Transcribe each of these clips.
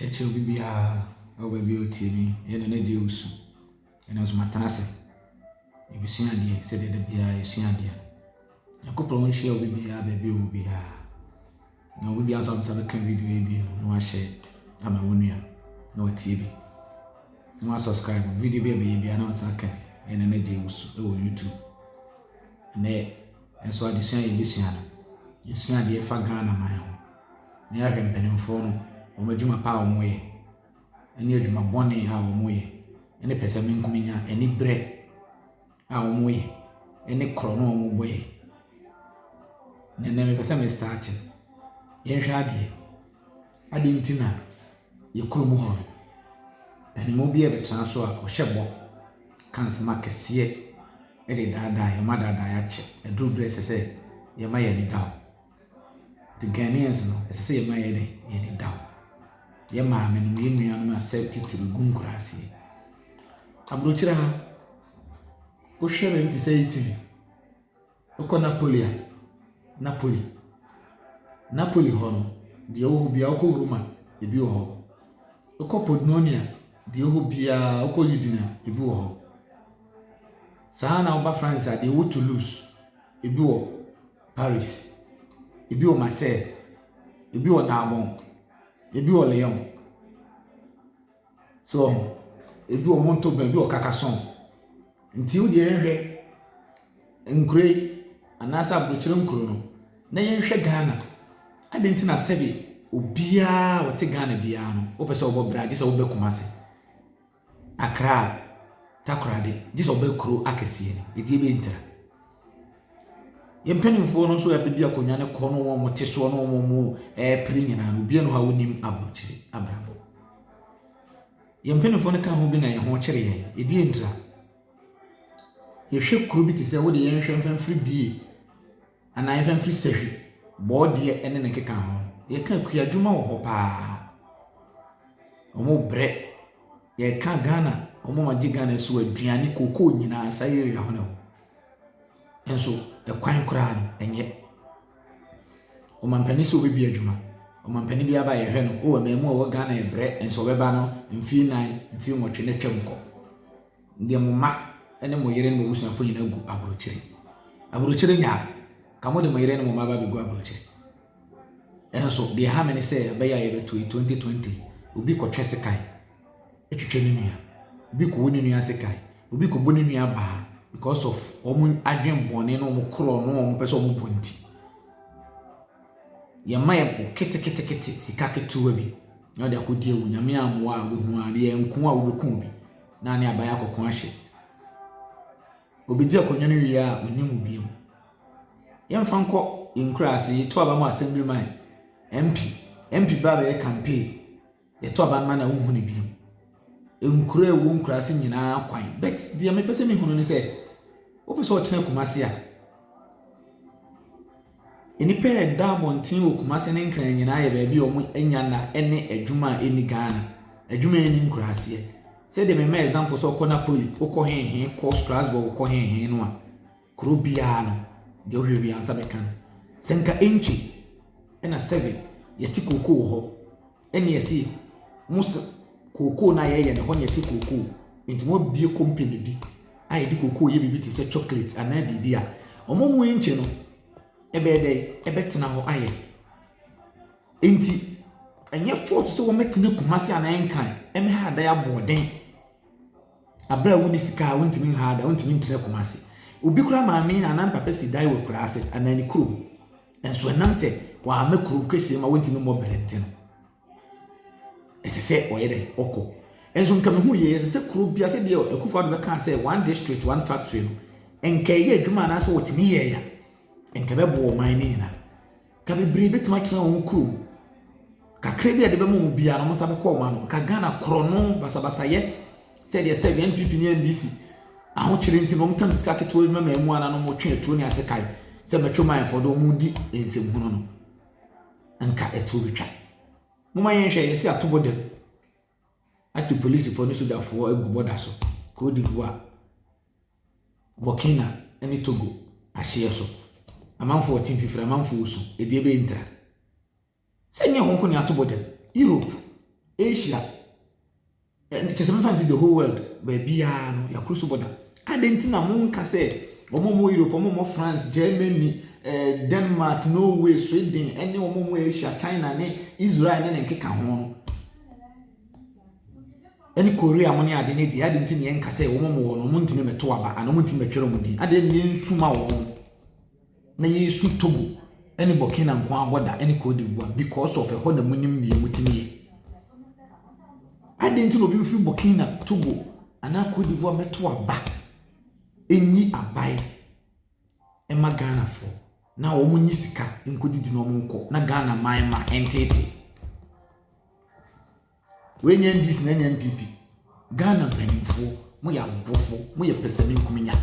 Kyɛkyerɛ obi biara wɔ baabi a ɔte no yɛ na n'agya resu. Ɛno nso matena ase. Yɛbɛsua adeɛ sɛdeɛ da biara yɛsua adeɛ. Nyankopɔn nhyira obi biara baabi a ɔwɔ biara. Na obi biara nso a ɔbɛsan abɛka video yi bio no na wahyɛ ama wo nua na watie bi. Na wasubscribe video bi a ɛbɛyɛ biara na wasan aka bi. Ɛna n'agya resu wɔ YouTube. Ɛnɛ Nso adesua a yɛbɛsua no, yɛsua adeɛ fa Ghana man ho. Na yɛahwɛ mpanimfoɔ no, wɔn adwuma pa a wɔyɛ, ne adwuma bɔne a wɔyɛ, ne pɛsɛmenkomenya, aniberɛ a wɔyɛ, ne korɔno a wɔbɔ yɛn. Na ɛnnɛ mepɛ sɛ me start. Yɛnhwɛ adeɛ. Adɛn nti na. yɛ kurom hɔ no, paninmu bi a ɔbɛtena so a ɔhyɛ bɔ ka nsɛm akɛseɛ de daadaa yɛn, ɔma adaadaa yɛn akyɛ. Ɛduru berɛ a ɛsɛ sɛ yɛma yɛn ani da hɔ. Nti Ghanaians no, ɛsɛ sɛ yɛma yɛyɛ dɛn? Yɛn ani da hɔ. Yɛn maamenom, yɛn nuanom a sɛ titiriw gu nkuraase. Aburokyire ha, wohwɛ baabi te sɛ Italy. Wokɔ Napoli a, Napoli, Napoli hɔ no, deɛ ɛwɔ hɔ biara, wokɔ Roma, ebi wɔ hɔ. Wokɔ Podnonia, deɛ ɛwɔ hɔ biara, wokɔ Udine a, ebi wɔ hɔ. Saa ara na woba France a, deɛ ɛwɔ Toulouse, ebi wɔ Paris, ebi wɔ Marseille, ebi wɔ Narbonne, ebi wɔ Lyon. So wɔho? Ebi wɔ hɔ ntobɛn, ebi wɔ ɔkakasɔn. Nti wo deɛ yɛnhwɛ nkuro yi anaasɛ aburokyire nkuro no na yɛnhwɛ Ghana. Adɛn nti na sɛbe obiara ɔte Ghana biara no wopɛ sɛ wobɔ bra gye sɛ wobɛ Kumase, Accra, Takoradi gye sɛ wobɛ kuro akɛseɛ no. Ɛdeɛ bɛntira. Yɛn mpanimfoɔ no nso a bɛdi akonnwa no kɔ ne wɔn te soɔ ne wɔn ɛrepere nyinaa no, obiara wɔ hɔ a ɔnnim aburokyire abrabɔ. Yɛn mpanimfoɔ no ka ho bi na yɛn ho kyere yɛn, yɛdi yɛn tira. Yɛhwɛ kuro bi te sɛ wode yɛnhwɛ mfɛmfiri bie anaa mfɛmfiri sahwi, bɔɔdeɛ ne ne keka ho. Yɛka akua adwuma wɔ hɔ paa. Wɔbrɛ, yɛka Ghana, wɔma gye Ghana so aduane, cocoa nyinaa saa area hɔ na ɛwɔ. Nso ɛkwan koraa no ɛnyɛ. Ɔmanpanin sɛ ɔbɛbue adwuma, ɔmanpanin biara ba a yɛhwɛ no, oh mmaamua a wɔwɔ Ghana ɛbrɛ, nso ɔbɛba no mfeɛ nnan, mfeɛ nwɔtwe na atwam kɔ. Deɛ mo mma ne mo yere ne mo abusuafoɔ nyinaa gu aburokyire. Aburokyire nyaa, nka mode mo yere ne mo mma aba abɛgu aburokyire. Nanso deɛ ɛha me ne sɛ abɛyɛ a yɛbɛto yi twenty twenty obi kɔtwɛ sekan twitwa ne nua obi kɔwɔ ne nua sekan obi kɔbɔ ne nua baa because of wɔn adwene bɔne na wɔn korɔ no wɔn pɛ sɛ wɔn bɔ nti yɛma yɛ bɔ ketekete sika ketewa bi na ɔde akɔdi awu nyame amoa a wobɛhu a ne yɛ nko a wobɛku obi na ne aban akɔko ahyɛ Obedzi akonnwa no wie a onnya mu bio. Yɛmfa nkɔ yɛn nkuraase, yɛto aba ma Assemblyman, MP. MP ba bɛyɛ campaign, yɛto aba no ma na wonhu no bio. Nkuro a ɛwɔ nkuraase nyinaa kwan. But deɛ mepɛ sɛ mehu no ne sɛ, wopɛ sɛ ɔtena Kumasi a, Nnipa a ɛda abɔnten wɔ Kumase ne Nkran nyinaa yɛ baabi a wɔanya nna ne adwuma a ɛnni Ghana. Adwuma a ɛnni nkuraseɛ. Sɛdeɛ memaa example sɛ wokɔ Napoli, wokɔ he he, wokɔ Strasbourg, wokɔ he he no a, kuro biara no, deɛ wohwehwɛ biara wo nsa bɛka no. Sɛ nka Enche na Sèvres, yɛte kooko wɔ hɔ. Ɛne ɛse mo se kookoo no a yɛyɛ no hɔ na ɛte kookoo nti moabue company bi a yɛde kookoo yɛ biribi te sɛ chocolate anaa biribi a ɔmo mu enkyɛ no ɛbɛyɛ dɛ ɛbɛtena hɔ ayɛ nti ɛnyɛ fɔɔso sɛ wɔmɛtena Kumasi anaa Nkran ɛmɛha adan aboɔden. Bere a wunni sika a wuntumi nhaw dan, wuntumi ntena Kumasi. Obi koraa maame anaa ne papa si dan wɔ akuraa ase anaa ne kurom. Nanso ɛnam sɛ wɔamma kurow kɛse ma wontumi mmɔ bere nti no, ɛsɛ sɛ ɔyɛ dɛn? Ɔkɔ. Nso nka mehu yie, ɛsɛ sɛ kurow bia sɛ deɛ Akufo-Addo bɛkaa sɛ one district, one factory no, nka ɛyɛ adwuma anaasɛ wɔtumi yɛeɛ a, nka ɛbɛboa ɔman no nyinaa. Ka bebree bɛtumi atena wɔn kurom. Kakra bi a yɛde bɛma wɔn biara no, wɔn nsa bɛkɔ wɔn ano. Ka Ghana korɔno, basabasayɛ, sɛdeɛ sɛ NPP ne NDC ahokyere nti no, wɔtam sika ketewa bi ma ma ɛmu ananom wɔtwe atuo ne asekan sɛ mɛtwe man fɔ do wɔn di nsɛmhunu no. Nka ɛtoɔ bɛtwa. Moma yɛnhwɛ yɛsi atobɔ dam. ato polisifo ne sogyafo agu bɔda so, Côte d'Ivoire, Burkina ne Togo ahyeɛ so. Amanfoɔ te mfifire, amanfoɔ resu, ɛdeɛ bɛyɛ ntira. Sɛ nyɛ wɔn nko na ato bɔda Europe, Asia, ɛnti sɛ mefa no sɛ the whole world, baabiara no, yɛakoro so bɔda. Adɛn nti na monka sɛ wɔn a wɔwɔ Europe, wɔn a wɔwɔ France, Germany, eh, Denmark, Norway, Sweden, ne wɔn a wɔwɔ Asia, China ne Israel ne ne nkeka ho no, ɛne Korea mo ne ade no deɛ, adɛn nti na yɛnka sɛ wɔn a wɔwɔ no, wɔntumi mmɛto aba anaa wɔntumi mmɛtwerɛ wɔn din? Adɛn na yɛnsuma wɔn? na yɛresu Togo ne Burkina nko ara bɔ da ne Cote d'Ivoire because of ɛhɔ na munim nea mutumi yɛ. Adɛn nti na obi bɛfiri Burkina, Togo anaa Cote d'Ivoire mɛto aba ɛnyi abae ɛma Ghanafoɔ na wɔn nyi sika nkɔdidi na wɔn nkɔ na Ghana man ma ɛnteetee. Wei nyɛ NDC na ɛnyɛ NPP. Ghana mpanimfoɔ, moyɛ awofoɔ, moyɛ pɛsɛmenkominya.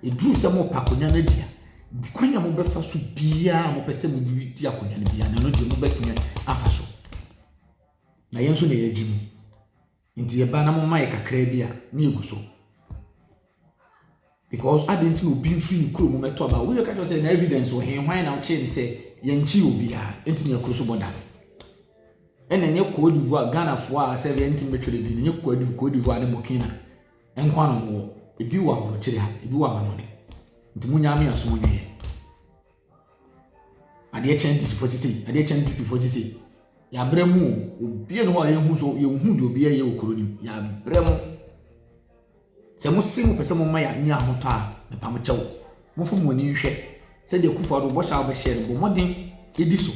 Ɛduru sɛ mopa akonnwa no adi a, kwan a mobɛfa so biara a mopɛ sɛ mode di akonnwa no biara no, ɛno deɛ mobɛtumi afa so. Na yɛn nso na yɛagye mu. Nti yɛba na moma yɛ kakraa bi a, ne yɛgu so. Because adɛn nti na obi mfiri ne kuro mu mɛto aba? Obi bɛka kyerɛ sɛ na evidence wɔ he? Hwan na ɔkyee ne sɛ yɛnkyee obiara nti na yɛkuro so bɔ da? Ɛna ɛnyɛ Cote d'Ivoire Ghanafoɔ a sɛ yɛn ntumi twere din ɛnyɛ Cote d'Ivoire ne Burkina nko na wɔwɔ ebi wɔ aburokyire ha ebi wɔ amanɔne nti mo nyaa me asom nwie. Adeɛ kyɛ NDC foɔ sisei, adeɛ kyɛ NPP foɔ sisei. Yɛabrɛ mu o, obiara ni hɔ a yɛnhu so yɛnhu deɛ obiara yɛ wɔ kuro no mu. Yɛabrɛ mu. Sɛ mo se mo pɛ sɛ mo ma yɛanya ahotɔ a, mepa mo kyɛw. Momfa mo ani nhwɛ sɛdeɛ Kufuor Addo bɔhyɛ a wobɛhyɛ no bɔ mmɔden di so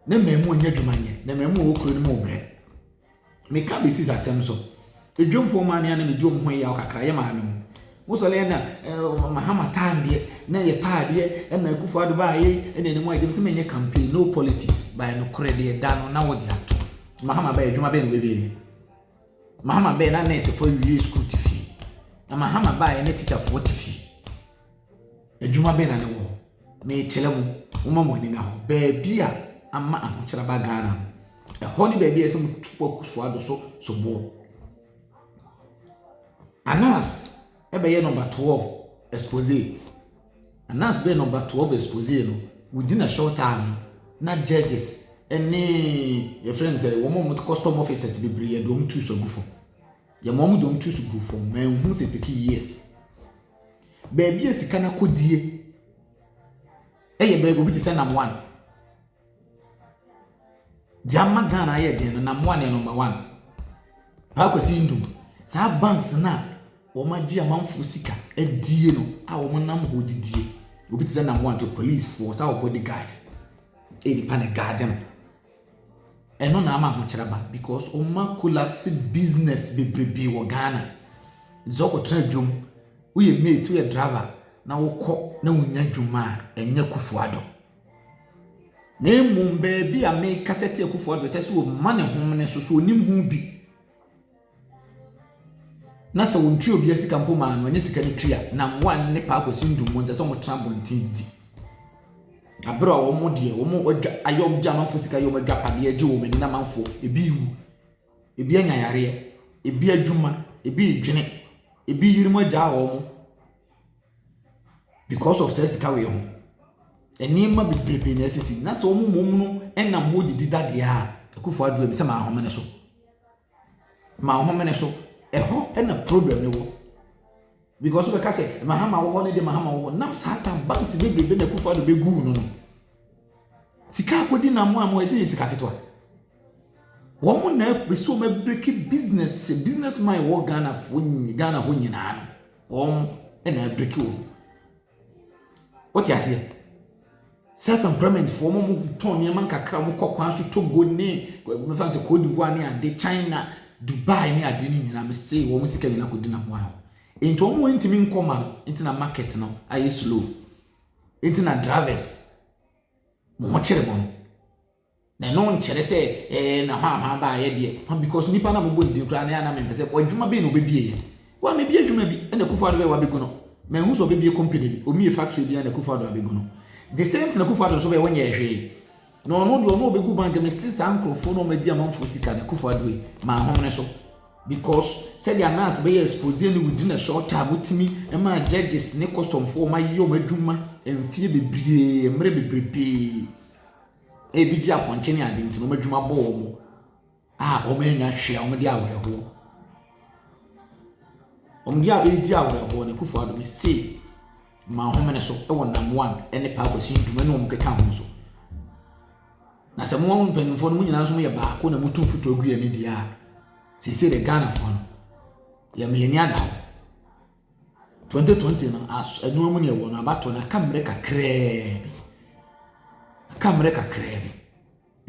na mmamu anya adwuma nyɛ na mmamu a ɛwɔ kuro no mu rebrɛ. meka bɛsis asɛm so. Edwomfoɔ maa nea na medi wɔn ho yaw kakra yɛ maa me no. Mo sɔre yɛ na Mahama taa adeɛ na yɛ taa adeɛ ɛna Akufo Addo baa yɛ ɛna ne mu agye me sɛ menyɛ campaign no politics by no korɛ deɛ da no na wɔde ato. Mahama bɛyɛ adwuma bɛyɛ na wɔbɛwie yɛ. Mahama bɛyɛ na nɛɛsefo awie sukuu te fie. Na Mahama baa yɛ na tikyafoɔ te fie. Adwuma bɛn na ne wɔ hɔ? Mekyerɛ mo, momma mo ani nna hɔ. Baabi a ama ahokyere aba Ghana no, ɛhɔ ne baabi a ɛsɛ sɛ motu kɔ Akufo Addo so soboɔ. Anas ɛbɛyɛ nɔmba 12 expose. Anas bɛyɛ nɔmba 12 expose no, within a short time na judges ɛne yɛfrɛ no sɛ wɔn a wɔte custom officers bebree yɛde wɔn tu so agu fam. Yɛma wɔn de wɔn tu so gu fam, manhu sɛ take years. Baabi a sika no akodie yɛ baabi obi te sɛ Namoan. Deɛ ama Ghana ayɛ den no, Namoan yɛ number one. Paa Kwasi Ntum, saa banks no a wɔagye amanfoɔ sika adie no a wɔnam hɔ didie, obi te sɛ Namoan to policefoɔ, saa ɔbɔ de guys, ɛnipa na ɛgaade no. Ɛno na ama ahokyerɛ aba because wɔma collapse business bebrebe wɔ Ghana. Nti sɛ wokɔtena adwam, woyɛ mate, woyɛ driver na wokɔ na wonya adwuma a, ɛnyɛ Akufo Addo. Na mmom baabi a mekasa tia Akufo Addo sɛ sɛ ɔma ne homene so so ɔnim ho bi. Na sɛ wɔn tua obia sika mpo ma no ɛnyɛ sika no tua na mmoa no ne paa kwasi ndum mo nsɛ sɛ wɔn tena abɔnten didi abere a wɔn deɛ wɔn adwa ayɛ wɔn gye amanfo sika yɛ wɔn adwa padeɛ gye wɔn ani na amanfo ebi wu ebi anya yareɛ ebi adwuma ebi dwene ebi yere mu agya wɔn because of sɛ sika wei ho. nneɛma bebrebe na ɛsisi na sɛ wɔn mmom no nam hɔ didi dadeɛ a akufoɔ ado a ɛsɛ sɛ maa home no so. Mahome so. Ɛhɔ na problem no wɔ. Because wobɛka sɛ Mahama wɔ hɔ ne de Mahama wɔ hɔ. Nam saa tam banks bebrebe na Akufo-Addo bɛguu no no. Sika akɔdi nam mo a mo ɛsɛ yɛ sika ketewa. Wɔn na ɛsɛ wɔn abiriki business business man wɔ Ghana fo Ghana hɔ nyinaa no. Wɔn na abiriki wɔn. Wote aseɛ? Self employment foɔ mo mo tɔn nneɛma nkakra mo kɔ kwan so Togo ne mefa no sɛ Cote d'Ivoire ne ade China Dubai ne ade ne nyinaa mese wɔn sika nyinaa kɔ di na ho ahɔ. Nti wɔn wɔn ntumi nkɔ ma no nti na market no ayɛ slow. Nti na drivers mo ho kyerɛ mo no. Na ɛno nkyerɛ sɛ ɛɛ na hwahwa baeɛ deɛ hwa because nipa na mobɔ ne din koraa na ɛna mempɛ sɛ adwuma bɛn na ɔbɛbie yɛ wo a mebie adwuma bi ɛna Akufo Addo bɛyɛ wabɛgu no manhu sɛ ɔbɛbie company bi ɔmmie factory bi ɛna Akufo Addo abɛgu no the same thing Akufo Addo nso bɛyɛ ɔnyɛɛ hwee na ɔno deɛ ɔno ɔbɛgu bank mese saa nkurɔfoɔ na ɔmadi amanfoɔ sika na Akufo Addo yi manhomene so because sɛdeɛ anas bɛyɛ expose ne within a short time wotumi ma judges ne customfoɔ ɔmayɛ ɔmadwuma mfie bebree mmerɛ bebrebee Ebi gye apɔnkye ne ade nti na wɔn adwuma bɔ wɔn a wɔannya hwee a wɔde awerɛhoɔ. Wɔn deɛ a ɛredi awerɛhoɔ no, Akufo Addo mese ma nhome no so wɔ nam one ne Paa Kwasi Ntumu ne wɔn keka ho so. Na sɛ mo mpanimfoɔ no mo nyinaa nso yɛ baako na motu mfutuo gu yɛn deɛ a, seesei deɛ Ghanafoɔ no, yɛma yɛn ani ada hɔ. 2020 no aso ɛnoa mu na ɛwɔ no abatoɔ no aka mmerɛ kakraa bi aka mmerɛ kakraa bi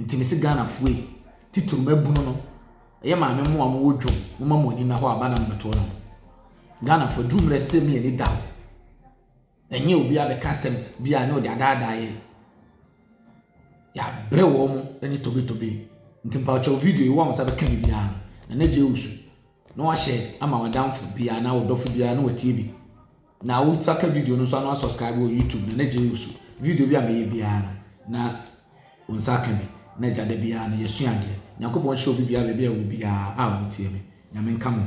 nti mesi ghanafoɔ yi titiri mabunu no ɛyɛ maame mmoa mo wɔ dwom mo ma mo ani na hɔ aba na mmɛtoɔ no ghanafoɔ duru mmerɛ ɛsɛ sɛ mi ani da hɔ Ɛnyɛ obi abɛka asɛm bi a na ɔde adaadaa yɛn. Yɛabrɛ wɔn ne tobetobe. Nti mpakyɛw video yi wo a wo nsa bɛka bi biara no, na na gye wo su na wahyɛ ama w'adamfo biara anaa ɔdɔfo biara na watie bi. Na wo nsa ka video no nso ano asubscribe wɔ YouTube na na gye wo su. Video bi a mɛyɛ biara no, na wo nsa ka bi. Na gya da biara no yɛsua adeɛ. Nyankopɔn hyɛ obi biara baabi a ɛwɔ biara a wɔtie me. Nyame nka mo ho.